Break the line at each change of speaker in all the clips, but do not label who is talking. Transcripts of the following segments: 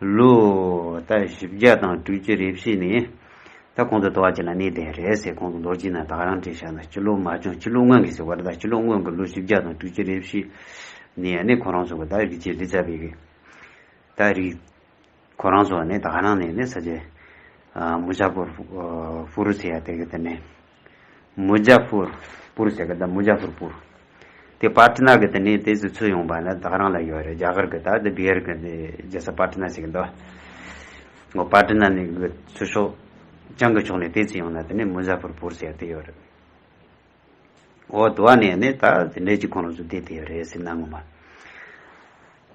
ལོ་ད་བཞི་བརྒྱ་དང་དྲུག་ཅུ་རེ་བཞི་ནས་ད་གོང་དུ་དོ་བ་ཅི་ལ་ནི་དེ་རེད་ཟེར་གོང་དུ་མདོར་བགྱིས་ན་དག་རང་བྲིས་བཞག་ན་སྤྱི་ལོ་མ་བྱུང་སྤྱི་ལོ་སྔོན་གྱི་ཟེར་བ་རེད་ད་སྤྱི་ལོ་སྔོན་གྱི་ལོ་བཞི་བརྒྱ་དང་དྲུག་ཅུ་རེ་བཞི་ནས་ཡ་ནི་ཁོ་རང་ཚོ་གི་ད་རིག་བྱེད་རི་རྩ་བའི་གི་ད་རིག་ཁོ་རང་ཚོ་ནི་དག་རང་ནས་ནི་ས་ཆ་མུ་ཇ་པུར་ཧྥུ་རུ་ཚེ་ཡ་དེ་གི་དེ་ནས། མུ་ཇ་ཕུར། པུར་ཟེར་གི་ད་མུ་ཇ་ཕུར་པུར། དེ་པཱ་ཏི་ནཱ་གི་དེ་ནི་དེ་སུ་ཚུར་ཡོང་བ་ན་ད་རང་ལ་ཡོད་རེད་རྒྱ་གར་གི་ད་དེ་བྷི་ཧར་གི་དེ་རྗེ་ས་པཱ་ཏི་ནཱ་ཟེར་གི་འདུག་ངོ་པཱ་ཏི་ནཱ་ནི་གི་ཚུར་ཤོག་ཅང་གི་ཕྱོགས་ནས་དེ་ཚུར་ཡོང་ན་དེ་ནི་མུ་ཇ་ཕུར་པུར་ཟེར་དེ་ཡོད་རེད། འོ་དེ་བ་ནི་ནི་ད་དེ་འདྲས་ཀྱི་ཁོང་རང་ཚོ་དེ་དེ་ཡོད་རེད་ཟེར་ན་ངོ་མ་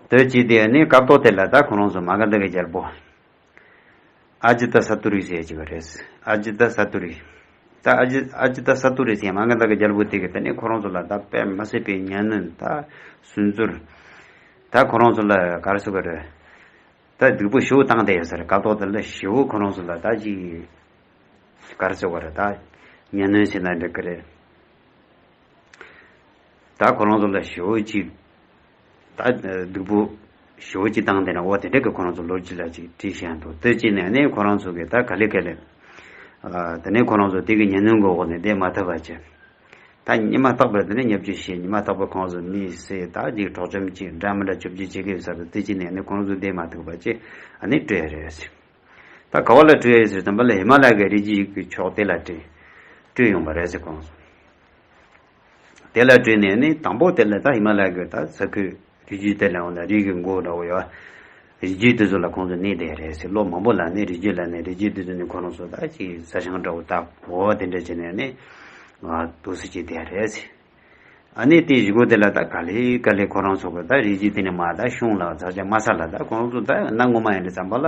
དོད་ཅིག་དེ་ནི་སྐབས་ཐོག་དེ་ལ་ད་ཁོང་རང་ཚོ་མ་ག་འདི་གི་རྒྱལ་པོ། ཨ་ཇི་ཏཱ་སཱ་ཏུ་རི་ཞེས་བགྱི་བ་རེད། ཨ་ཇི་ཏཱ་སཱ་ཏུ་རི། ད་ཨ་ཇི། ཨ་ཇི་ཏཱ་སཱ་ཏུ་རི་ཞེས་ང་གདའ་གི་རྒྱལ་པོ་དེ་གི་ད་ནི་ཁོ་རང་ཚོ་ལ་ད་དཔེ་མ་སྲིད་པའི་གཉའ་གནོན་ད་སུན་ཙུར། ད་ཁོ་རང་ཚོ་ལ་གར་སོ་གར། ད་སྡིག་པོ་ཞུ་བཏང་བསྡད་ཡོད་ས་རེད་ཀ་ཏོག་ད་ལ་ཞི་བོ་ཁོ་རང་ཚོ་ལ་ད་ཅི། གར་སོ་གར་ད་གཉའ་གནོན་བྱེད་ན་འགྲིག་གི་རེད། ད་ཁོ་རང་ཚོ་ལ་ཞི་བོ་ཅིག། ད་སྡུག་པོ། ཞོ་གཅིག་བཏང་དེ་ན་འོ་དེ་འདྲ་གི་ཁོ་རང་ཚོ་ལོ་གཅིག་ལ་གཅིག་དྲི་ཞེན་འདུག་ལྟོས་ཅི་ནས་ནི་ཁོ་རང་ཚོ་གི་ད་ག་ལེ་ག་ལེ། དེ་ནས་ཁོ་རང་ཚོ་དེ་གི་ཉེ་ནུང་གི་འོག་ནས་བསྡད་མ་ཐུབ་པ་ཅི། ད་ཉི་མ་རྟག་པར་དེ་ནས་ཉབ་རྒྱུ་ཞེས་ཉི་མ་རྟག་པར་ཁོང་ཚོ་མི་སེ་ད་གཅིག་གྲོགས་ཆོམ་གཅིག་འདྲ་མི་འདྲ་བཅུ་བཅུ་གཅིག་གི་ས་རུ་ལྟོས་ཅི་ནས་ནི་ཁོ་རང་ཚོ་བསྡད་མ་ཐུབ་པ་ཅི་ཨ་ནི་སྤྲོས་རེད་ཟེར། ད་ག་བ་ལ་སྤྲོས་ཟེར་དམ་པ་ལ་ཧི་མ་ལ་ཀའི་རི་རྒྱུད་ཀྱི་ཕྱོགས་དེ་ལ་སྤྲོས། སྤྲོས་ཡོང་པ་རེད་ཟེར་ཁོང་ཚོ། དེ་ལ་བྲིས་ནས་ནི་དང་པོ་དེ་ལས་ད་ཧི་མ་ལ་ཀའི་ད་ས་ཁུལ་རི་རྒྱུད་དེ་ལས་འོངས་ན་རིགས་ཀྱི་མགོ་འདྲ་བོ་ཡོད། རི་རྒྱུད་དེ་ཚོ་ལ་ཁོང་ཚོ་ནི་དེ་རེད་ཟེར་ལོ་མང་པོ་ལ་ནི་རི་རྒྱུད་ལ་ནི་རི་རྒྱུད་དེ་ཚོ་ནི་ཁོ་རང་ཚོ་ད་ཅིག་ས་ཞང་འདྲ་བོ་བཏབ་འོ་དེ་འདྲ་བྱས་ནས་ནི་དུ་ས་ཅིག་དེ་རེད་ཟེར། ཨ་ནི་དེའི་གཞི་སྒོ་དེ་ལ་ད་ག་ལི་ག་ལི་ཁོ་རང་ཚོ་གི་ད་རི་རྒྱུད་དེ་ནི་མ་ད་ཤོང་ལ་ད་ཆ་མ་ས་ལ་ད་ཁོང་རང་ཚོ་ད་གནའ་སྔོན་མ་ཡིན་དྲི་བརྩམས་པ་ལ།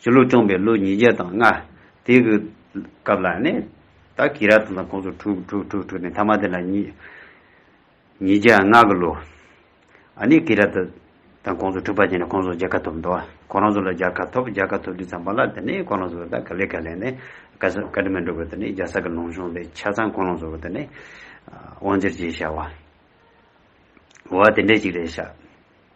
ཞེས་ལོ་སྐྱོང་པའི་ལོ་ཉིས་བརྒྱ་དང་ལྔ། དེ་གི་སྐབས་ལ་ནི་ད་ཀི་ར་ཐང་དང་ཁོང་ཚོ་དྲུག་དྲུག་དྲུག་དྲུག་ནས་ཐ་མ་དེ་ལ་ཉིས་ཉིས་བརྒྱ་ལྔ་གི་ལོ། ཨ་ནི་ཀི་ར་ཐ་དང་ཁོང་ཚོ་དྲུག་པ་ཅན་ནས་ཁོང་ཚོ་རྒྱལ་ཁ་ཐོབ་འདུག་ཁོ་རང་ཚོ་ལ་རྒྱལ་ཁ་ཐོབ་རྒྱལ་ཁ་ཐོབ་དུས་ཙམ་པ་ལ་དེ་ནི་ཁོ་རང་ཚོ་ད་ག་ལེ་ག་ལེ་ནས་ཀ་ས་ཀ་ཏི་མན་ཏྲོ་གི་དེ་ནི་རྒྱལ་ས་གི་ལུང་གཤོང་དེ་ཆ་ཚང་ཁོ་རང་ཚོ་གི་དེ་ནི་དབང་བསྒྱུར་བྱས་བྱ་བ་བ་དེ་འདྲས་ཅིག་རེད་བྱ།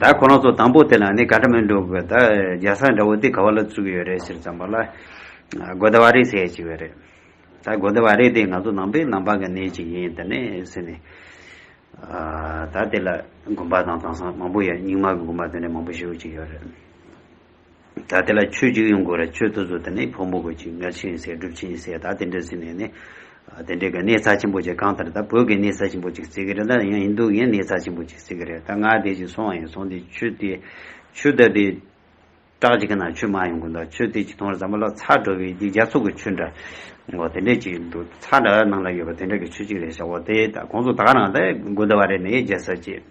ད་ཁོ་རང་ཚོ་དང་པོ་དེ་ལ་ནི་ག་འདྲ་མིན་འདུག་གི་ད་རྒྱ་སར་འདྲ་བོ་དེ་ག་བ་ལ་བཙུགས་ཡོད་རེད་ཟེར་ཙང་པ་ལ། གོ་ད་བ་རི་ཟེར་ཅིག་ཡོད་རེད། ད་གོ་ད་བ་རི་དེ་ང་ཚོ་ནང་པའི་ནང་པ་གི་གནས་ཅིག་ཡིན་ད་ནི་ཟེར་ནས། ད་དེ་ལ་དགོན་པ་དང་དེང་སང་མང་པོ་ཡོད་རྙིང་མ་གི་དགོན་པ་དེ་འདྲ་མང་པོ་ཞིག་ཡོད་ཅིག་ཡོད་རེད། ད་དེ་ལ་ཆོས་གཅིག་ཡོང་དགོས་ར་ཆོས་ཐུ་ཚོད་དེ་ནི་ཕོ་མོ་དགོས་ཅིག་མངལ་ཆེན་ཡིན་ཟེར་སྒྲུབ་ཆེན་ཡིན་ཟེར་ད་དེ་འདྲ་ཟེར་ནས་ནི། དེ་འདྲའི་ག་གནས་ཚ་ཆེན་པོ་ཅིག་གང་ལྟར་ད་བོད་ཀྱི་གནས་ཚ་ཆེན་པོ་ཅིག་བརྩིག་གི་རེད་ད་ཡང་ཡིན་འདུག་གིན་གནས་ཚ་ཆེན་པོ་ཅིག་བརྩིག་གི་རེད་ད་ང་དེ་བཞིན་སོང་བ་ཡིན་སོང་དེ་ཆོས་དེ་ཆོས་དད་པའི་སྐྲག་ཅིག་གི་ན་ཆོས་མ་ཡོང་གི་འདུག་ཆོས་དེ་ཅིག་མཐོང་ར་ཟ་མ་ལ་ཚ་འགྲོ་བའི་དེ་རྒྱ་ཚོགས་ཀྱི་ཆོས་འདྲ་ངོ་དེ་འདྲ་ཅིག་ཡིན་འདུག་ཚ་འདྲ་ནང་ལ་ཡོད་པ་དེ་འདྲ་གི་ཆོས་ཅིག་རེད་ཞག་བོ་དེ་ད་ཁོང་ཚོ་ད་ག་ནང་ད་དགོན་སྡེ་བ་རེད་ནས་རྒྱལ་ས་ཅེས།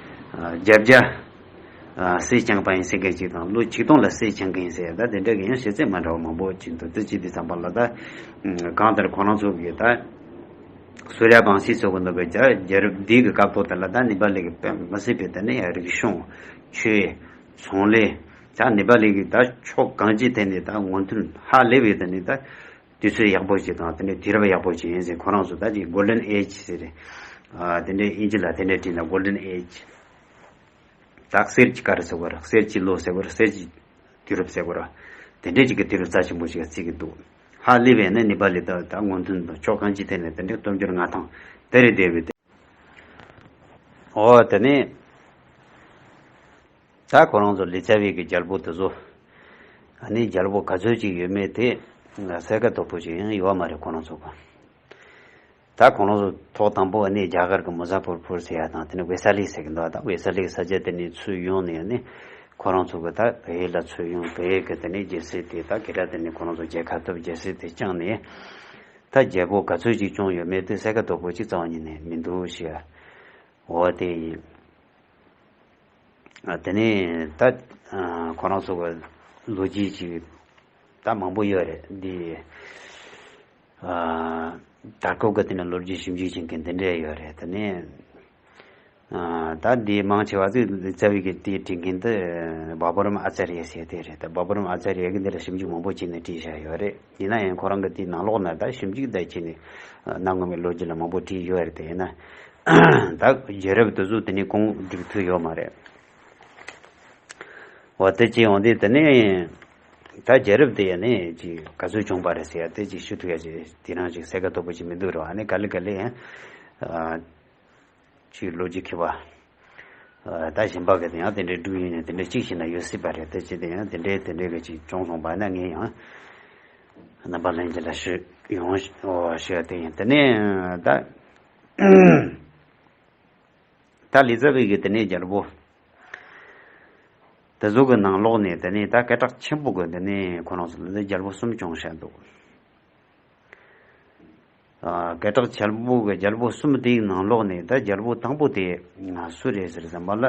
བརྒྱ་བརྒྱ། སྲས་བསྐྱངས་པ་ཡིན་སྲིད་སྐད་ཅིག་དང་ལོ་ཆིག་སྟོང་ལ་སྲས་བསྐྱངས་མཁན་ཡིན་སྲིད་ད་དེ་འདྲ་གི་ཡང་ཤེས་ཚད་མ་འདྲ་བ་མང་པོ་ཅིག་འདུག་ཚེ་གཅིག་དུས་ཙམ་པ་ལ་ད། གང་ལྟར་ཁོ་རང་ཚོ་གི་ད། སུ་རལ་བང་སིའི་ཚོ་གི་འདུག་པའི་རྒྱ་རྒྱལ་རབས་འདིའི་གི་སྐབས་ཐོག་དེ་ལ་ད་ནི་པ་ལི་གི་པད་མ་སྲིད་པའི་ད་ནི་ཡང་རིག་གཞུང། ཆོས། ཚོང་ལས། ཇག་ནི་པ་ལི་གི་ད་ཕྱོགས་གང་ཅིའི་ཐད་ནས་ད་ངོ་མཐུན་ཧ་ལས་པའི་ད་ནི་ད། དུས་ཚོད་ཡག་པོ་ཞིག་དང་དེ་འདྲའི་དུས་རབས་ཡག་པོ་ཞིག་ཡིན་ཟེར་ཁོ་རང་ཚོ་ད་ཅིག Golden Age ཟེར། དེ་འདྲའི་ཨིན་ཇི་ལ་དེ་འདྲའི་བྲིས་ན Golden Age། དག་གསེར་གྱི་སྐར་ཟེར་དགོས་ར་གསེར་གྱི་ལོ་ཟེར་དགོས་ར་གསེར་གྱི་དུས་རབས་ཟེར་དགོས་ར། དེ་འདྲའི་ཅིག་གི་དུས་རབས་རྩ་ཆེན་པོ་ཞིག་བརྩིས་ཀྱི་འདུག་ཧ་ལི་བས་ནི་ནི་པ་ལི་དག་དང་སྔོན་ཐོན་དང་ཕྱོགས་གང་ཅིའི་ཐད་ནས་དེ་འདྲའི་སྟོབས་འབྱོར་མངའ་ཐང་དེ་རེད་དེ་རེད། འོ་དེ་ནི། ད་ཁོ་རང་ཚོ་ལི་ཙཱ་བྷེ་གི་རྒྱལ་པོ་དེ་ཚོ་ནི་རྒྱལ་པོ་ག་ཚོད་ཅིག་ཡོད་མེད་དེ་གསལ་ཁ་དོག་པོ་ཅིག་ཡང་ཡོད་མ་རེད་ཁོ་རང་ཚོ་དགོངས། ད་ཁོ་རང་ཚོ་ཐོག་དང་པོ་ནི་རྒྱ་གར་གི་མོ་ཟ་ཕོར་ཕོར་ཟེར་ཡ་དང་དེ་ནི་ཝེ་ས་ལི་ཟེར་གི་འདུག་ད་ཝེ་ས་ལི་ས་ཆ་དེ་ནི་ཚུར་ཡོང་ནས་ནི་ཁོ་རང་ཚོ་གི་ད་བྷེ་ལ་ཚུར་ཡོང་བྷེ་གི་དེ་ནི་རྒྱལ་སྲིད་དེ་ད་གི་ད་དེ་ནི་ཁོ་རང་ཚོ་རྒྱལ་ཁ་ཐོབ་རྒྱལ་སྲིད་དེ་བསྐྱངས་ནས་ད་རྒྱལ་པོ་ག་ཚོད་ཅིག་བསྐྱོང་ཡོད་མེད་དེ་གསལ་ཁ་དོག་པོ་ཅིག་རྩ་བ་ཉིད་ནས་མི་འདུག་ཤི་འོ་དེ་ཡིན། དེ་ནས་ད་ཁོ་རང་ཚོ་གི་ལོ་རྒྱུས་ཅིག་ད་མང་པོ་ཡོད་རེད་འདི། དར་ཁུག་གི་དེ་ནས་ལོ་རྒྱུས་ཞིབ་འཇུག་བྱེད་མཁན་དེ་འདྲས་ཡོད་རེད་དེ་ནས། ད་འདི་མང་ཆེ་བ་ཚོས་རྩ་བའི་གི་དེ་བྲིས་མཁན་དེ་བཱ་པོ་རམ་ཨ་ཙར་ཡཱས་ཟེར་དེ་རེད་དེ་བཱ་པོ་རམ་ཨ་ཙར་ཡཱས་གི་འདི་ལ་ཞིབ་འཇུག་མང་པོ་བྱས་ནས་བྲིས་བཞག་ཡོད་རེད། ཡིན་ན་ཡང་ཁོ་རང་གི་དེའི་ནང་ལོགས་ན་དག་ཞིབ་འཇུག་དག་བྱས་ནས་གནང་དགོས་པའི་ལོ་རྒྱུས་ལ་མང་པོ་བྲིས་ཡོད་རེད་དེ་ཡིན་ན་དག་རྒྱལ་རབས་དུས་གཟུགས་དེ་ནས་གོང་བསྒྲིགས་ཐུབ་ཡོད་མ་རེད། འོ་དེ་ཅི་ཡོང་དུས་དེ་ནས་དག་རྒྱལ་རབས་དེ་ཡིན་ནས་ག་ཚོད་བྱུང་པ་རེད་ཟེར་ཡ་དེ་ཅིག་ཞུ་ཐུབ་ཡ་ཅིག་དེ་རང་ཅིག་གསལ་ཁ་དོད་པོ་ཅིག་མི་འདུག་རེད་བ་ནི་ག་ལི་ག་ལི། ཆུའི་ལོ་རྒྱུས་འཁེལ་བ། ད་ཞིན་པ་གི་དེ་ཡང་དེ་འདྲའི་འབྲུག་ཡིན་ནས་དེ་འདྲའི་གཅིག་ཞིག་ན་ཡོད་སྲིད་པ་རེད་དེ་ཅི་དེ་ཡང་དེ་འདྲའི་དེ་འདྲའི་གི་ཅིག་བྱུང་སོང་བ་ན་ངས་ཡང་རྣམ་པ་ལྷན་ཅིག་ལ་ཞུ་ཡོང་ཞུ་ཡ་དེ་ཡིན་དེ་ནས་ད་ད་ལི་ཙཱ་བྷེ་གི་དེ་ནས་རྒྱལ་པོ་དེ་ཚོ་གི་ནང་ལོགས་ནས་དེ་ནས་ད་སྐད་གྲགས་ཆེན་པོ་གི་དེ་ནས་ཁོ་རང་ཚོ་ལ་རྒྱལ་པོ་གསུམ་སྐྱོང་བྱས་འདུག། སྐད་གྲགས་འཇལ་པོ་གི་རྒྱལ་པོ་གསུམ་དེའི་ནང་ལོགས་ནས་ད་རྒྱལ་པོ་དང་པོ་དེ་སུ་རེད་ཟེར་བསམ་པ་ལ།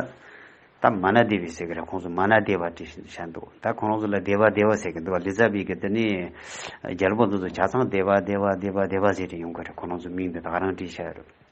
ད་མ་ན་དེ་བི་ཟེར་གི་རེད་ཁོང་ཚོ་མ་ན་དེ་བ་དྲི་བཞིན་བྱས་འདུག་ད་ཁོང་རང་ཚོ་ལ་དེ་བ་དེ་བ་ཟེར་གི་འདུག་བ་ལི་ཙཱ་བི་གི་དེ་ནས་རྒྱལ་པོ་འདི་ཚོ་བྱ་ཚང་དེ་བ་དེ་བ་དེ་བ་དེ་བ་ཟེར་གི་ཡོང་གི་རེད་ཁོང་རང་ཚོ་མིང་དེ་དག་རང་བྲིས་བྱས་རེད།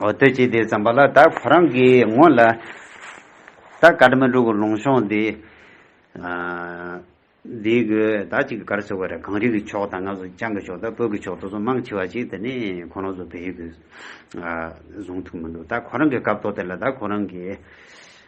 འོ་དོད་ཅིག་དེ་བརྩམས་པ་ལ་ད་ཁོ་རང་གིས་ངོ་ལ་ད་ག་དྲི་མ་དྲུག་གི་ལུང་ཤོང་དེ་འདི་གོ་ད་གཅིག་གི་གར་སོ་ག་རེད་གངས་རི་གི་ཕྱོགས་དང་ང་ཚོ་བྱང་གི་ཕྱོགས་དང་བོད་ཀྱི་ཕྱོགས་དུ་ཚོ་མང་ཆེ་བ་ཞིག་དེ་ནི་ཁོ་རང་ཚོ་བལ་ཡུལ་དུ་བཟུང་ཐུབ་མི་འདུག་ད་ཁོ་རང་གི་སྐབས་ཐོག་དེ་ལ་ད་ཁོ་རང་གིས།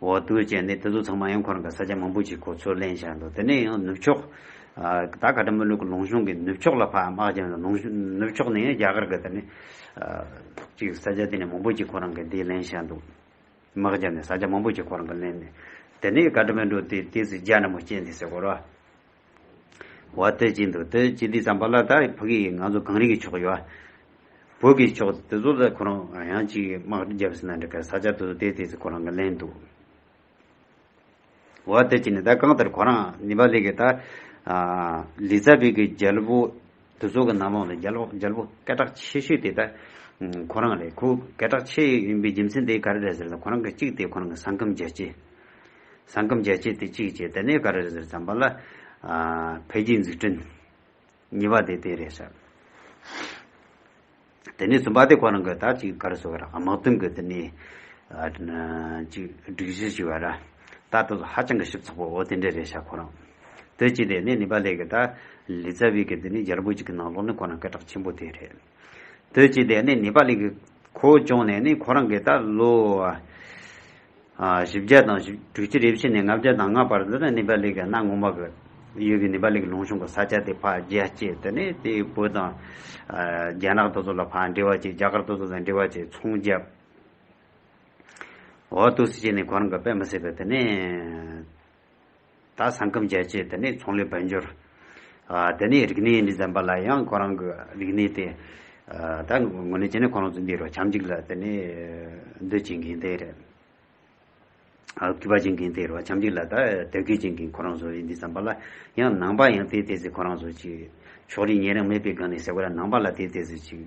འོ་ལྟོས་བཅས་ནི་དེ་ཚོ་ཚང་མ་ཡང་ཁོ་རང་གི་ས་ཆ་མང་པོ་ཞིག་གོ་ཚོད་ལེན་བཞག་འདུག་དེ་ནས་ཡང་ནུབ་ཕྱོགས། ད་ཀ་ཏྲ་མོ་ལུག་གི་ལུང་གཞུང་གི་ནུབ་ཕྱོགས་ལ་ཕ་དམག་བྱས་ནས་ལུང་ནུབ་ཕྱོགས་ནས་རྒྱ་གར་གི་དེ་ནི། ཅིག་ས་ཆ་དེ་ནས་མང་པོ་ཞིག་ཁོ་རང་གི་དེ་ལེན་བཞག་འདུག་དམག་བྱས་ནས་ས་ཆ་མང་པོ་ཞིག་ཁོ་རང་གི་ལེན་ནས། དེ་ནས་ཀ་ཏྲ་མོ་ལུག་དེ་དེ་ཚོས་རྒྱ་ནག་མོ་བསྐྱེལ་འདི་ཟེར་སྐོར་བ། བ་སྟོད་ཀྱི་འདུག་སྟོད་ཀྱི་འདི་བརྩམས་པ་ལ་ད་བོད་ཀྱི་ང་ཚོ་གངས་རི་གི་ཕྱོགས་ཡོད་བ། བོད་ཀྱི་ཕྱོགས་དེ་ཚོ་ལ་ཁོ་རང་ཡང་ཅིག་དམག་སྒྲིག་རྒྱབ་ཟིན་ན་འགྲིག་ག་ས་ཆ་དེ་ཚོ་དེ་དེ་ཚོ་ཁོ་རང་གི་ལན་འདུག། བ་སྟོད་ཀྱི་ནི་ད་གང་ལྟར་ཁོ་རང་ནི་བ་ལི་གི་ད། ལི་ཙཱ་བི་གི་རྒྱལ་པོ། དུ་ཚོགས་ཀྱི་ནང་ལོགས་ནས་རྒྱལ་པོ་སྐད་གྲགས་ཆེ་ཤོས་དེ་དག་ཁོ་རང་རེད། ཁོ་སྐད་གྲགས་ཆེ་ཡིན་པའི་རྒྱུ་མཚན་དེ་ག་རེ་རེད་ཟེར་ན་ཁོ་རང་གི་གཅིག་དེ་ཁོ་རང་གི་ས་ཁམས་རྒྱལ་གཅེས། ས་ཁམས་རྒྱལ་གཅེས་དེ་གཅིག་བྱས་དེ་ནས་ག་རེ་རེད་ཟེར་བསམ་པ་ལ། འཕེལ་རྒྱས་འཛུགས་སྐྲུན། གཉིས་པ་དེ་དེ་རེད་ཟེར། དེ་ནས་བཙུན་པ་དེ་ཁོ་རང་གི་ད་ཅིག་གར་སོང་བ་ར་དམག་དོན་གྱི་དེ་ནས་ཅིག་སྒྲིག་གཞི་ཞིག་བ་ར་ད་དེ་ཚོ་ཧ་ཅང་གི་ཞིབ་ཚགས་པོ་འོ་དེ་འདྲས་རེད་ཤག་ཁོ་རང་དེ་ཅིག་དེ་ནས་ནི་པ་ལའི་གི་ད་ལི་ཙ་བི་གི་དེ་ནས་རྒྱལ་པོ་ཅིག་གི་ནང་ལོགས་ནི་ཁོ་རང་སྐད་གྲགས་ཆེན་པོ་དེ་རེད་དེ་ཅིག་དེ་ནས་ནི་པ་ལའི་གི་ཁོ་བོ་ཅོང་ནས་ནི་ཁོ་རང་གི་ད་ལོ། བཞི་བརྒྱ་དང་བཞི་དྲུག་ཅུ་རེ་བཞི་ནས་ལྔ་བརྒྱ་དང་ལྔ་བར་དུ་ནི་ནི་པཱ་ལི་གའི་གནའ་སྔོན་མ་གི་ཡུལ་གྱི་ནི་པཱ་ལི་གི་ལུང་ཤོང་གི་ས་ཆ་དེ་ཕ་རྒྱལ་སྐྱེས་དེ་ནི་དེའི་བུ་དང། རྒྱ་ནག་ཏོ་ཙོ་ལ་ཕ་འདྲེ་བ་བཅས་རྒྱ་གར་ཏོ་ཙོ་དང་འདྲེ་བ་བཅས་ཚོང་བརྒྱབ། ཨོ་ཏུ་སི་བཅས་ནི་གོ་རང་གི་དཔེ་མི་སྲིད་པས་དེ་ནི། ད་ས་ཁམས་རྒྱལ་སྤྱིའི་དེ་ནས་ཚོང་ལས་དཔལ་འབྱོར། དེ་ནས་རིག་གནས་ནས་འཛེམ་པ་ལ་ཡང་ཁོ་རང་གི་རིག་གནས་དེ། ད་ངོ་ནས་བྱས་ན་ཁོ་རང་ཚོ་འདི་རུ་བྱམས་ཅིག་ལ་དེ་ནས་འདུ་བྱེད་མཁན་དེ་རེད། སྐུད་པ་བྱེད་མཁན་དེ་རུ་བྱམས་ཅིག་ལ་ད་དལ་ཁུལ་བྱེད་མཁན་ཁོ་རང་ཚོ་རེད་འདི་བསམ་པ་ལ་ཡང་ནང་པ་ཡང་དེ་དེ་ཟིག་ཁོ་རང་ཚོ་ཅིག་ཕྱོགས་རིས་ཉེ་རིང་མེད་པའི་སྒང་ནས་ཟེར་བ་ལ་ནང་པ་ལ་དེ་དེ་ཟིག་ཅིག།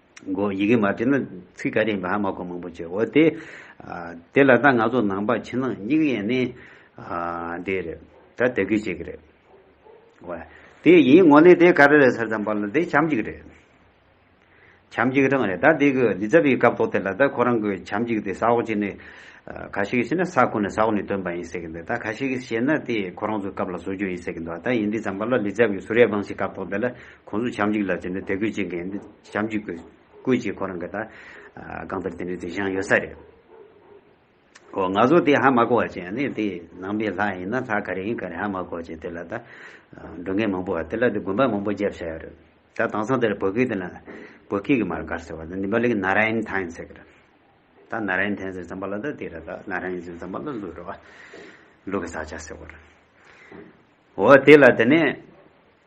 གོ། ཡི་གེ་མ་བྲིས་ན་ཚིག་ག་རེ་ཡིན་པ་ཧ་མ་གོ་མང་པོ་བྱེད་འོ་དེ། དེ་ལ་ད་ང་ཚོ་ནང་པ་ཕྱི་ནང་གཉིས་ཀ་ཡན་ནི་དེ་རེད། ད་དད་གུས་བྱེད་ཀྱི་རེད། ཝེ། དེ་ཡིན་ངོ་ནི་དེ་ག་རེ་རེད་ཟེར་ཙམ་པ་ལ་དེ་བྱམས་གཅིག་རེད། བྱམས་གཅིག་རང་རེད་ད་དེ་གི་ལི་ཙྪ་བའི་སྐབས་ཐོག་དེ་ལ་ད་ཁོ་རང་གི་བྱམས་གཅིག་དེ་ས་འོག་གཅིག་ནི། ག་ཞིག་ཞེ་ན་ས་ཁོ་ནས་ས་འོག་ནས་བཏོན་པ་ཡིན་ཟེར་གྱི་འདུག་ད་ག་ཞིག་ཞེ་ན་དེ་ཁོ་རང་ཚོའི་སྐབས་ལ་བཟོ་རྒྱུ་ཡིན་ཟེར་གྱི་འདུག་ད་ཡིན་དེ་ཙམ་པ་ལ་ལི་ཙྪ་བའི་ཟུར་ཡ་བང་ཞིག་སྐབས་ཐོག་དེ་ལ་ཁོང་ཚོ་བྱམས་བརྒྱུད་ལ་དེ་འདྲའི་དད་གུས་བྱེད་མཁན་བྱམས་བརྒྱུད་ཀྱི་བཀོད་ཇེ་ཁོ་རང་གི་དང་གང་ལྟར་དེ་འདྲའི་དུས་བྱང་ཡོད་ས་རེད། ཨོ་ང་ཚོ་དེ་ཧ་མ་གོ་བ་ཅན་ནི་དེ་ནང་པའི་ལྷ་ཡིན་ན་ལྷ་ག་རེ་ཡིན་ག་རེ་ཧ་མ་གོ་བ་ཅན་དེ་ལ་ད་འགྲོ་མཁན་མང་པོ་བ་དེ་ལ་དེ་དགོན་པ་མང་པོ་རྒྱབ་བྱ་ཡོད་རེད། ད་དྭངས་སང་དེར་བོད་སྐད་དེ་ན་བོད་སྐད་ཀྱི་མར་གར་ཟེར་བ་ད་འདི་འབའ་ལེགས Narayan Thain ཟེར་གི་རེད། ད Narayan Thain ཟེར་བརྩམས་པ་ལ་ད་དེ་ར་ད Narayan ཟེར་བརྩམས་པ་ལ་ལུགས་རེད་བ། ལུགས་ཀྱི་ས་ཆ་ཟེར་བ་རེད། ཨོ་དེ་ལ་དེ་ནས།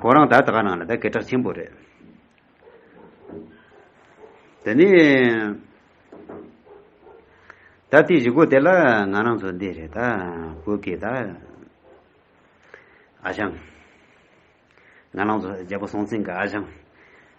གོ་རང་དག་དག་ནང་ལ་དག་གེ་དྲག་ཆེན་པོ་རེད། དེ་ནས་ད་དེ་བཞི་གོ་དེ་ལ་ང་རང་ཚོ་འདི་རེད་ད་བོད་གེ་ད་ཨ་ཞང་ང་རང་ཚོ་རྒྱལ་པོ་སྲོང་བཙན་གྱི་ཨ་ཞང།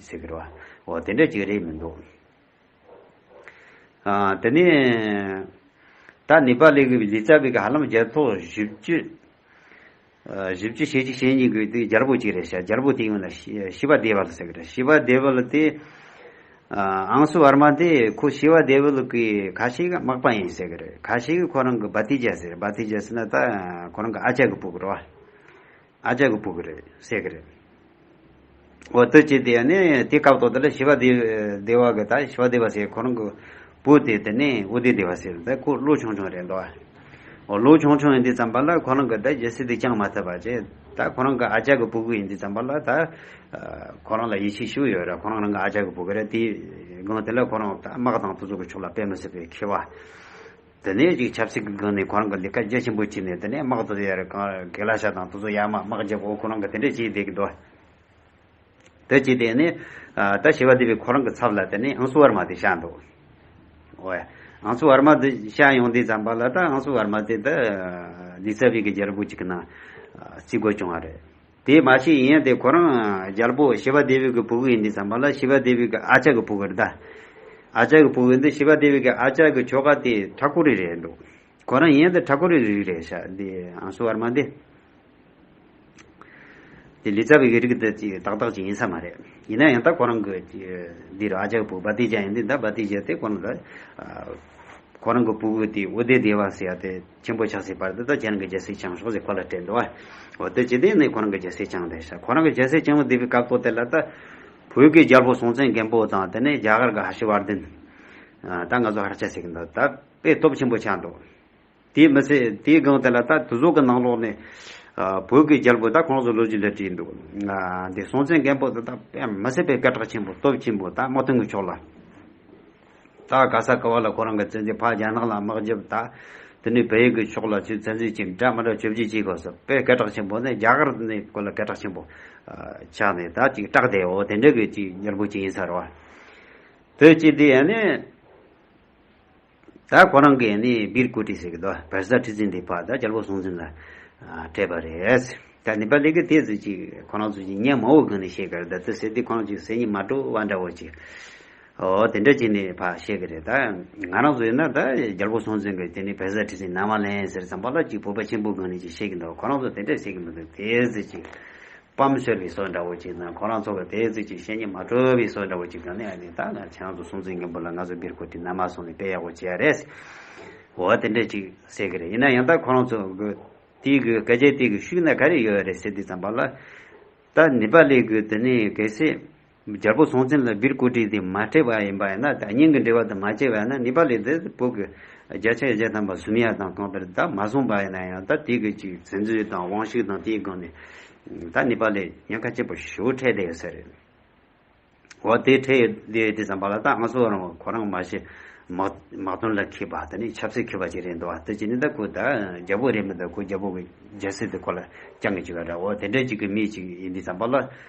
ཟེར་གི་རེད། འོ་དེ་འདྲ་ཅིག་རེད་མི་འདུག། དེ་ནས་ད་ནི་པ་ལི་གི་ལི་ཙཱ་བི་གི་ཧ་ལམ་རྒྱལ་ཚོགས་བཞི་བཅུ། བཞི་བཅུ་ཞེ་གཅིག་ཞེ་གཉིས་གི་དེ་རྒྱལ་པོ་གཅིག་རེད་བྱ་རྒྱལ་པོ་དེ་ཡིན་ལ་ཤི་བ་དེ་བ་ལ་ཟེར་གི་རེད་ཤི་བ་དེ་བ་ལ་དེ། ཨང་སུ་བར་མ་དེ་ཁོ་ཤི་བ་དེ་བ་ལ་གི་ག་ཤི་གི་དམག་པ་ཡིན་ཟེར་གི་རེད་ག་ཤི་གི་ཁོ་རང་གི་བ་ཏི་ཇཱ་ཟེར་བ་ཏི་ཇཱ་ཟེར་ན་ད་ཁོ་རང་གི་ཨ་ཅག་གི་བུ་གི་རེད། ཨ་ཅག་གི་བུ་གི་རེད་སྲས་ཀྱི་རེད། འོ་དོད་ཅིག་དེ་ཡང་ནི་དེ་སྐབས་ཐོག་དེ་ལ་ཞི་བ་སྡེ་བ་གི་ད་ཞི་བ་སྡེ་བ་ཟེར་ཁོ་རང་གི་བུ་དེ་དེ་ནི་ཨུ་ཏི་སྡེ་བ་ཟེར་ད་ཁོ་ཀླུ་ཆུང་ཆུང་རེད་འདུག་ཨོ་ཀླུ་ཆུང་ཆུང་ཡིན་དུས་ཙམ་པ་ལ་ཁོ་རང་གི་ད་རྒྱལ་སྲིད་དེ་བསྐྱངས་མ་ཐུབ་པ་ཅི་ད་ཁོ་རང་གི་ཨ་ཅག་གི་བུ་གི་ཡིན་དུས་ཙམ་པ་ལ་ད་ཁོ་རང་ལ་ཡིད་ཆེས་ཤུགས་ཡོད་རེད་ཁོ་རང་རང་གི་ཨ་ཅག་གི་བུ་གི་རེད་དེའི་དགོངས་དེ་ལ་ཁོ་རང་དམག་དང་དུ་ཚོགས་ཀྱི་ཕྱོགས་ལ་དཔེ་མི་སྲིད་པའི་ཁེ་བ་དེ་ནས་ཅིག་ཆབ་སྲིད་ཀྱི་སྒང་ནས་ཁོ་རང་གི་ལས་ཀ་རྒྱ་ཆེན་པོ་བྱས་ནས་དེ་ནས་དམག་དོ་ཡར་གང་གེ་ལ་ཤ་དང་དོ་ཚོ་ཡར་མར་དམག་རྒྱབ་ཨོ་ཁོ་རང་གི་དེ་འདྲས་བྱས་བསྡད་ཀྱི་འདུག་དེ་བྱས་བསྡད་ནས་ད་ཞེས་པ་དེ་བས་ཁོ་རང་གི་ཚབ་ལ་དེ་ནས་ཨང་སུ་ཨར་མ་དེ་བཞག་འདུག་ཨོ་ཡ། ཨང་སུ་ཨར་མ་དེ་བཞག་ཡོང་དུས་ཙམ་པ་ལ་ད་ཨང་སུ་ཨར་མ་དེ་ད་ལི་ཚ་བྷི་གི་རྒྱལ་པོ་གཅིག་གི་ནང་བརྩི་དགོས་བྱུང་བ་རེད། དེས་མ་ཤེས་ཡིན་ཡང་དེ་ཁོ་རང་རྒྱལ་པོ་ཤི་བ་དེ་བིད་ཀྱི་བུ་གུ་ཡིན་འདི་བསམ་པ་ལ་ཤི་བ་དེ་བིད་ཀྱི་ཨ་ཅག་གི་བུ་གུ་རེད་ད། ཨ་ཅག་གི་བུ་གུ་འདི་ཤི་བ་དེ་བིད་ཀྱི་ཨ་ཅག་གི་ཁྱོ་ག་དེ་ཁྲ་ཁོ་རི་རེད་འདུག་ཁོ་རང་ཡིན་ཡང་འདི་ཁྲ་ཁོ་རི་གི་རིགས་རེད་ཤ་འདི་ཨང་སུ་བར་མ་འདི། འདི་ལི་ཙ་བི་གི་རིགས་འདི་ཅིག་ཏག་ཏག་ཅིག་ཡིན་ས་མ་རེད་ཡིན་ན་ཡང་ད་ཁོ་རང་གི་འདི་རུ་ཨ་ཅག་གི་བུ་གུ་བ་ཏི་ཅག་ཡིན་འདི་ད་བ་ཏི་ཅག་དེ་ཁོ་རང་གི། ཁོ་རང་གི་བུ་གུ་དེ་འུ་དེ་དེ་བ་སི་ཡ་དེ། ཆེན་པོ་ཆགས་སྲིད་པར་དེ་དག་ཁྱེད་རང་གི་རྒྱལ་སྲིད་བྱང་ཕྱོགས་སུ་ཁོ་ལ་སྤྲད་དོ། འོ་དེ་ཇི་སྟེ་ནས་ཁོ་རང་གི་རྒྱལ་སྲིད་བྱང་དེ་ཤ་ཁོ་རང་གི་རྒྱལ་སྲིད་བྱང་བ་དེ་བའི་སྐབས་ཐོག་དེ་ལ་ད། བོད་ཀྱི་རྒྱལ་པོ་སྲོང་བཙན་སྒམ་པོ་དང་དེ་ནས་རྒྱ་གར་གྱི་ཧ་ཤི་བར་ལྡན། ད་ང་ཚོ་ཧར་ཆ་ཟིག་འདུག་ད་དཔེ་སྟོབས་ཆེན་པོ་ཆགས་འདུག། དེའི་མི་ཚེ་དེའི་སྒང་དེ་ལ་ད་དུ་ཟོག་གི་ནང་ལོགས་ནས། བོད་ཀྱི་རྒྱལ་པོ་ད་ཁོང་ཚོ་ལོ་རྒྱུས་ལ་བྲིས་འདུག། དེ་སྲོང་བཙན་སྒམ་པོ་དེ་ད་དཔེ་མི་སྲིད་པའི་སྐད་གྲགས་ཆེན་པོ་སྟོབས་ཆེན་པོ་ད་མ་མཐོང་གི་ཆོག་ལ། ད་ག་ས་ག་བ་ལ་ཁོ་རང་གི་བཙན་འཛུལ་ཕ་རྒྱ་ནག་ལ་དམག་བརྒྱབ་ད་དེ་ནས་བལ་ཡུལ་གྱི་ཕྱོགས་ལ་ཚུལ་བཙན་འཛུལ་གྱི་འདྲ་མི་འདྲ་བཅོ་བརྒྱད་བྱེད་དགོས་སོ་པའི་སྐད་གྲགས་ཆེན་པོ་ནི་རྒྱ་གར་ནས་བཀོལ་ལ་སྐད་གྲགས་ཆེན་པོ་ཆགས་ནས་ད་ཅིག་སྐྲག་དེ་འོ་དེ་འདྲ་གི་ཅིག་མྱུར་པོ་ཅིག་ཡིན་ས་རོ། བོད་སྤྱི་འདི་ཡང་ནི་ད་ཁོ་རང་གི་ཡང་ནི་བིར་ཀུ་ཏི་ཟེར་གི་དོ་བལ་ས་ཁྲི་ཙི་འདི་ཕ་ད་རྒྱལ་པོ་སྲོང་བཙན་ལ་སྤྲད་པ་རེད། ད་ནི་པ་ལི་གི་དེ་ཟེར་ཅིག་ཁོ་རང་ཚོ་ཅིག་ཉན་མང་བོ་གང་ནས་ཤེས་གར་ད་དེ་ཟེར་དེ་ཁོ་རང་ཅིག་ཟེར་ཉི་མ་དྲོ་བ་འདྲ་བོ་ཅིག། ཨོ་དེ་འདྲ་བྱས་ནས་ཕ་བཤད་གི་རེད་ད། ང་རང་ཚོ་ཡིན་ན་ད་རྒྱལ་པོ་སྲོང་བཙན་གྱིས་དེ་ནས་བལ་བཟའ་ཁྲི་སྲིན་ནག་མ་ལེན་ཟེར་ཙང་པ་ལགས་ཀྱིས་བོད་པ་ཆེན་པོ་གང་ནས་ཅིག་བཤད་གི་འདུག་ཁོ་རང་ཚོ་དེ་འདྲ་བཤད་གི་མི་འདུག་དེ་ཟེར་ཅིག། སྤམ་ཤོར་བའི་སྲོལ་འདྲ་བོ་ཅིག་དང་ཁོ་རང་ཚོ་གིས་དེ་ཟེར་ཅིག་བཤད་ཉེས་མ་གྲོལ་བའི་སྲོལ་འདྲ་བོ་ཅིག་གང་ནས་ཨ་ནི་ད་ང་ཆང་ཚོ་སྲོང་བཙན་སྒམ་པོ་ལ་ང་ཚོ་བེར་ཁུར་དེ་ནར་མར་སོང་ནས་དཔེ་ཡག་པོ་བྱས་ཡ་རེད། ཨོ་དེ་འདྲ་ཅིག་ཟེར་གི་རེད་ཡིན་ན་ཡང་ད་ཁོ་རང་ཚོ་གི་དེའི་གི་སྐད་ཆའི་སྟེང་གི་ཤུགས་ན་ག་རེ་ཡོད་རེད་ཟེར་དུས་ཙང་པ་ལགས། ད་ནི་པ་ལས་གི་དེ་ནས་གལ་སྲིད། རྒྱལ་པོ་སྲོང་བཙན་ལ་སྦིར་བཀོད་སྒྲིག་དེ་མ་སྤྲད་པ་ཡིན་པ་ཡིན་ན་ད་སྙིང་གི་འབྲེལ་བ་དེ་མ་བཅད་པ་ཡིན་ན་ནི་པ་ལི་དེ་བོད་ཀྱི་རྒྱལ་ཕྱག་རྒྱ་དམ་པ་སུམ་ཡ་དང་གང་ལྟར་ད་མ་གསུངས་པ་ཡིན་ན་ཡང་ད་དེ་གི་ཅིག་བཙན་འཛུལ་དང་དབང་ཤུགས་དང་དེའི་སྒང་ནས་ད་ནི་པ་ལི་ཉེན་ཁ་ཆེན་པོ་ཞུ་འཕྲད་བསྡད་ཡོད་ས་རེད། འོ་དེ་འཕྲད་ཡོད་བསྡད་ཡོད་དེ་བསམ་པ་ལ་ད་ང་ཚོ་རང་གོ་རང་མ་ཤེས་དམག་དམག་དོན་ལ་འཁེལ་པ་ད་ནི་ཆབ་སྲིད་འཁེལ་པ་ཅིག་རེད་འདུག་བ་ད་ཅི་ནི་ད་ཁོ་ད་རྒྱལ་པོ་རེད་མི་ད་ཁོ་རྒྱལ་པོ་གི་རྒྱལ་སྲིད་དེ་ཁོ་ལ་བསྐྱང་གི་ཅིག་ག་རེ་འོ་དེ་འདྲ་ཅིག་གི་མི་ཅིག་ཡིན་དེ་བསམ་པ་ལ་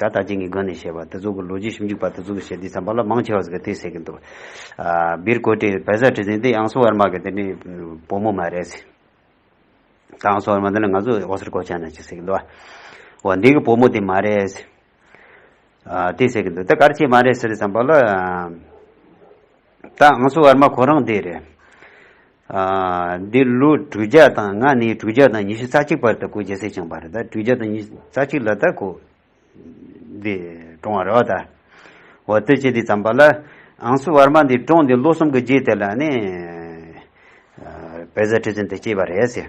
ད་ལྟ་ཅན་གྱི་སྒོ་ནས་བཤད་པ་དེ་ཚོ་གི་ལོ་རྒྱུས་ཞིབ་འཇུག་པ་དེ་ཚོ་གི་བཤད་དུས་སམ་བ་ལ་མང་ཆེ་བ་ཟེར་གི་དེ་ཟེར་གི་འདུག་སྦིར་ཀོ་ཏེ་བལ་བཟའ་ཁྲི་ཟེར་འདི་ཨང་སོ་ཨར་མ་གི་དེ་ནི་བུ་མོ་མ་རེད། ད་ཨང་སོ་ཨར་མ་དེ་ནི་ང་ཚོ་ཨོ་སི་ཀོ་ཅན་ནས་ཅིག་ཟེར་གི་འདུག་བ། འདི་གི་བུ་མོ་དེ་མ་རེད། དེ་ཟེར་གི་འདུག་ད་གར་ཆེན་མ་རེད་ཟེར་དུས་སམ་བ་ལ། ད་ཨང་སོ་ཨར་མ་ཁོ་རང་དེ་རེད། འདི་ལོ་དྲུག་བརྒྱ་དང་ང་ནི་དྲུག་བརྒྱ་དང་ཉི་ཤུ་རྩ་གཅིག་པར་ད་གུ་རྒྱལ་སྲས་བྱང་བ་རེད་ད་དྲུག་བརྒྱ་དང་ཉི་ཤུ་རྩ་གཅིག་ལ་ད་གུ་འདི་བཀྲོང་བ་རེད་བ་ད། བ་ལྟོས་བཅས་འདི་བརྩམས་པ་ལ་ཨང་སུ་བར་མ་འདི་བཀྲོང་འདི་ལོ་གསུམ་གི་རྗེས་དེ་ལ་ནི་བལ་བཟའ་ཁྲི་བཙུན་དེ་སྐྱེས་པ་རེད་ཟེར།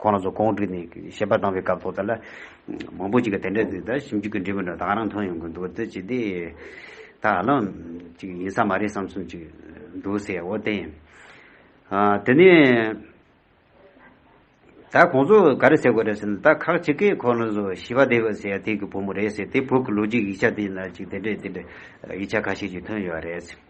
ཁོང་རང་ཚོ་གོང་བསྒྲིགས་ནས་བཤད་པ་བཏང་བའི་སྐབས་ཐོག་དེ་ལ་མང་པོ་ཅིག་གིས་དེ་འདྲ་ཟེར་ད་ཞིབ་འཇུག་གི་འབྲས་བུ་འདྲ་དག་རང་ཐོན་ཡོང་གི་འདུག་འདི་ཅི་སྟེ། ད་ཧ་ལམ་ཅིག་ཡིན་ས་མ་རེད་བསམ་གསུམ་ཅིག་འདུག་ཟེར་བ་བསྟན། དེ་ནས་ད་ཁོང་ཚོ་ག་རེ་ཟེར་དགོས་རེད་ཟེར་ན་ད་ཁག་ཅིག་གིས་ཁོང་རང་ཚོ་ཞི་བ་དེའི་ཟེར་ཡ་དེ་གི་བུ་མོ་རེད་ཟེར་དེ་བོད་ཀྱི་ལོ་རྒྱུས་ཡིག་ཆ་དེ་ན་ཅིག་དེ་འདྲ་དེ་འདྲ་ཡིག་ཆ་ཁ་ཤས་ཅིག་ཐོན་ཡོད་རེད།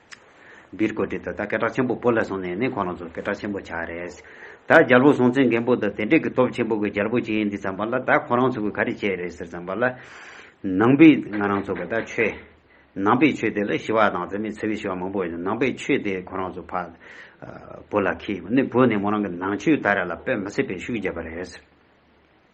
སྦིར་བཀོད་སྒྲིག་དང་ད་སྐད་གྲགས་ཆེན་པོ་པོ་ལ་སོང་ནས་ནི་ཁོ་རང་ཚོ་སྐད་གྲགས་ཆེན་པོ་ཆགས་རེད། ད་རྒྱལ་པོ་སྲོང་བཙན་སྒམ་པོ་དང་དེ་འབྲེལ་གྱི་སྟོབས་ཆེན་པོ་གི་རྒྱལ་པོ་གཅིག་ཡིན་འདི་བརྩམས་པ་ལ་ད་ཁོ་རང་ཚོ་གིས་ག་རེ་བྱས་རེད་ཟེར་བརྩམས་པ་ལ། ནང་པའི་ང་རང་ཚོ་གི་ད་ཆོས། ནང་པའི་ཆོས་དེ་ལ་ཞི་བ་དང་འཛིན་མའི་ཚེ་བའི་ཞི་བ་མང་པོ་ཡོད་ནང་པའི་ཆོས་དེ་ཁོ་རང་ཚོ་ཕ། བུ་ལ་ཁེལ་ནས་བུ་ནས་མོ་རང་གི་ནང་ཆོས་ད་རེ་ལ་དཔེ་མི་སྲིད་པའི་ཤུགས་རྒྱབ་པ་རེད།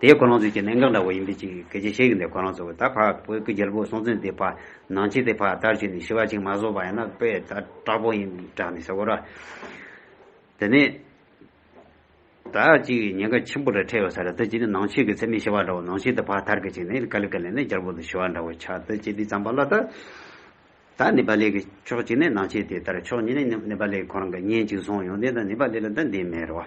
དེའི་ཁོ་རང་ཚོའི་ཁྱི་ནེང་ག་འདྲ་བོ་ཡིན་པའི་ཅིག་གལ་ཆེ་ཤེས་གི་འདུག་ཁོ་རང་ཚོ་ད་བར་བོད་ཀྱི་རྒྱལ་པོ་སྲོང་བཙན་དེ་བར་ནང་ཆེ་དེ་བར་ལྟར་བྱས་ནས་ཞི་བ་ཅིག་མ་བཟོ་བ་ཡིན་ན་དཔེ་ད་དྲག་པོ་ཡིན་དྲག་ནས་ཟེར་གོ་ར། དེ་ནས་ད་ཅིག་ཉེན་ཁ་ཆེན་པོ་རེ་འཕྲད་ཡོད་ས་རེད་ད་ཅིག་ནི་ནང་ཆེ་གི་ཚད་མས་ཞི་བ་འདྲ་བོ་ནང་ཆེ་དེ་བར་ཐར་གི་ཅིག་ནས་ཀ་ལི་ཀ་ལས་ནས་རྒྱལ་པོ་དང་ཞི་བ་འདྲ་བོ་ཆགས་ད་ཅིག་དེ་ཙམ་པ་ལ་ད་ད་ནི་པ་ལི་གི་ཕྱོགས་གཅིག་ནས་ནང་ཆེ་དེ་ལྟར་ཕྱོགས་གཉིས་ནས་ནི་པ་ལི་གི་ཁོ་རང་གི་གཉེན་ཅིག་བཟུང་ཡོང་དེ་ད་ནི་པ་ལི་ལ་ད་འདི་མེད་རེད་བ།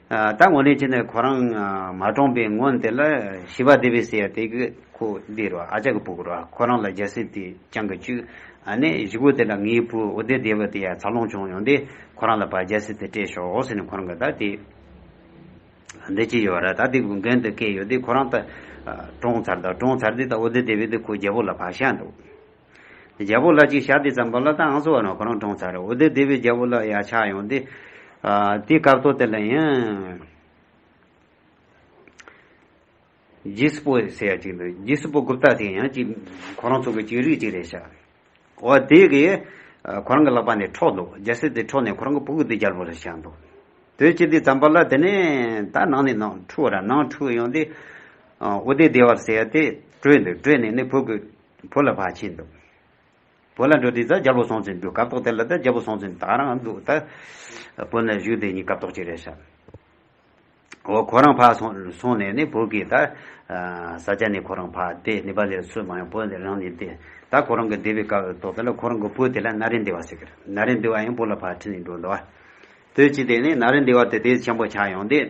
ད་ངོ་ནས་ཅི་ནས་ཁོ་རང་མ་བཀྲོངས་པའི་སྔོན་དེ་ལ་ཞི་བ་དེ་བས་སེ་ཡ་དེ་གི་ཁུ་དེ་རོ་ཨ་ཅག་གི་བུ་གུ་རོ་ཁོ་རང་ལ་རྒྱལ་སྲིད་དེ་བཅང་གི་བཅུག་ཨ་ནས་གཞི་བུ་དེ་ལ་ངའི་བུ་འོ་དེ་དེ་བས་དེ་ཡ་ཚར་ལོངས་བྱུང་ཡོང་དེ་ཁོ་རང་ལ་བ་རྒྱལ་སྲིད་དེ་སྤྲད་ཤོག་ཨོ་ཟེ་ནས་ཁོ་རང་གི་ད་དེ་འདི་ཅི་ཡོད་ར་ད་དེ་གུ་འགན་དེ་སྐེ་ཡོད་དེ་ཁོ་རང་ད་བཀྲོངས་ཚར་ད་བཀྲོངས་ཚར་དེ་ད་འོ་དེ་དེ་བས་དེ་ཁོ་རྒྱལ་པོ་ལ་བ་ཤ་འདུག། རྒྱལ་པོ་ལ་ཅིག་ཞག་དེ་ཙམ་པོ་ལ་ད་ཨང་སོ་བ་ན་ཁོ་རང་གྲོངས་ཚར་རེད་འོ་དེ་དེ་བས་རྒྱལ་པོ་ལ་ཡ་ཆགས་ཡོང་སྟེ། དེའི་སྐབས་ཐོག་དེ་ལ་ཡང། རྗེས་སྤོ་ཟེར་ཡ་ཅིག་འདུག་རྗེས་སྤོ་རྒུབ་སྟག་དེ་ཡང་ཅིག་ཁོ་རང་ཚོ་གི་ཅིག་རིགས་ཅིག་རེད་ཤག་འོ་དེ་གི། ཁོ་རང་གི་ལག་པ་ནས་འཕྲོག་འདུག་རྒྱལ་སྲས་དེ་འཕྲོག་ནས་ཁོ་རང་གི་བུ་གུ་དེ་རྒྱལ་པོ་ལ་བཞག་འདུག་དོན་ཅི་དེ་ཙམ་པོ་ལ་དེ་ནས་ད་ནང་ནས་ནང་འཁྲུག་ར་ནང་འཁྲུག་ཡོང་སྟེ། འོ་དེ་དེ་བར་ཟེར་ཡ་དེ་བྲོས་འདུག་བྲོས་ནས་ནི་བུ་གུ། བུ་ལ་བག་ཕྱེས་འདུག། བུ་ལ་འགྲོ་དུས་ད་རྒྱལ་པོ་སོང་ཚུལ་འདུག་གབ་ཏོག་དེ་ལ་ད་རྒྱལ་པོ་སོང་ཚུལ་དག་རང་འདུག་ད། བུ་ནི་བཞུགས་དེ་ཉིད་གབ་ཏོག་ཅིག་རེ་བཞག། འོ་ཁོ་རང་བག་སོང་ནས་ནི་བུ་གིས་ད། བཟའ་བཅའ་ནི་ཁོ་རང་བག་དེ་ནི་བ་ལས་སུ་མ་ཡོང་བུ་དེ་རང་ནི་དེ། ད་ཁོ་རང་གི་འདི་བའི་གབ་ཏོག་དེ་ལ་ཁོ་རང་གི་བུ་དེ་ལ་ན་རེ་འདི་བ་ཟེར་གི། ན་རེ་འདི་བ་ཡང་བུ་ལ་བག་ཕྱེས་ནས་འགྲོ་འདུག། དུས་གཅིག་དེ་ནི་ན་རེ་འདི་བ་དེ་དེའི་ཆེན་པོ་ཆགས་ཡོང་དུས།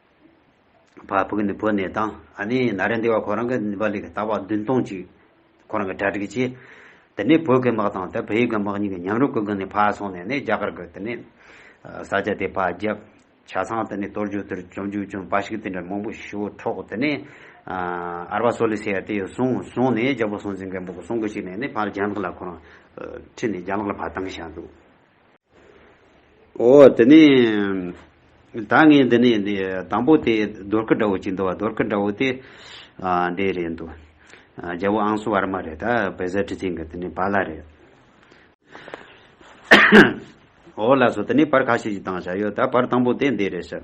བ་བུ་གི་ནི་བུ་ནི་དང་ཨ་ནི་ན་རེ་འདི་བ་ཁོ་རང་གི་ནི་བ་ལི་གི་ད་བ་བདུན་སྟོང་གཅིག་ཁོ་རང་གི་གྲ་གྲིག་གཅིག་དེ་ནི་བོད་གི་དམག་དང་དེ་བོད་ཡིག་གི་དམག་གཉིས་གི་ཉམས་རུ་ཀུ་གི་ནི་བ་སོང་ནས་ནི་རྒྱ་གར་གི་དེ་ནི་ས་སྐྱ་དེ་བ་བརྒྱབ། བྱ་ཚང་དེ་ནི་གཏོར་རྒྱུག་དེར་བཅོམ་རྒྱུག་བཅོམ་བ་ཞིག་དེ་འདྲ་མང་པོ་ཞུ་འཕྲོག་དེ་ནི་ཨ་ར་བ་སོ་ལི་སི་ཡ་དེ་ཡོད་སོང་སོང་ནས་རྒྱལ་པོ་སྲོང་བཙན་སྒམ་པོ་གི་སྲོང་གི་ཞིག་ནས་ནི་བར་རྒྱ་ནག་ལ་ཁོ་རང་ཁྲིད་ནས་རྒྱ་ནག་ལ་བ་བཏང་བཞག་འདུག། ཨོ། དེ་ནས་ད་ངས་འདི་ནས་འདི་དང་པོ་དེ་རྡོར་སྐུ་འདྲ་བོ་གཅིག་འདུག་བ་རྡོར་སྐུ་འདྲ་བོ་དེ་འདི་རེད་འདུག། རྒྱལ་པོ་ཨང་སུ་བར་མ་རེད་ད་བེ་ཟ་ཁྲི་ཚིག་གི་དེ་ནས་བ་ལ་རེད། ཨོ་ལགས་སོ་དེ་ནས་བར་ཁ་ཤས་ཀྱི་དང་བཞག་ཡོད་ད་བར་དང་པོ་དེ་འདི་རེད་ཤག།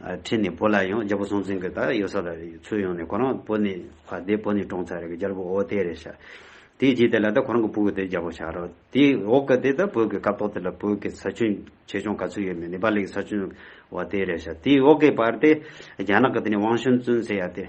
ཁྲིད་ནས་བོད་ལ་ཡོང་རྒྱལ་པོ་སྲོང་བཙན་གྱི་ད་ཡོད་ས་ལ་ཚུར་ཡོང་ནས་ཁོ་རང་བོད་ནས་བ་དེ་བོད་ནས་བཀྲོངས་ཚར་རེད་རྒྱལ་པོ་ཨོ་དེ་རེད་ཤག་དེའི་རྗེས་དེ་ལ་ད་ཁོ་རང་གི་བུ་གི་དེ་རྒྱལ་པོ་ཆགས་རོགས་དེའི་འོག་གི་དེ་ད་བོད་ཀྱི་སྐབས་ཐོག་དེ་ལ་བོད་ཀྱི་ས་ཆུན་ཆེ་ཆུང་ག་ཚོད་ཡོད་མེད་ནེ་པ་ལི་གི་ས་ཆུན་བ་དེ་རེད་ཤག་དེའི་འོག་གི་བར་དེ་རྒྱ་ནག་གི་དེ་ནས་ཝང་ཤོན་བཙུན་ཟེར་ཡ་དེ།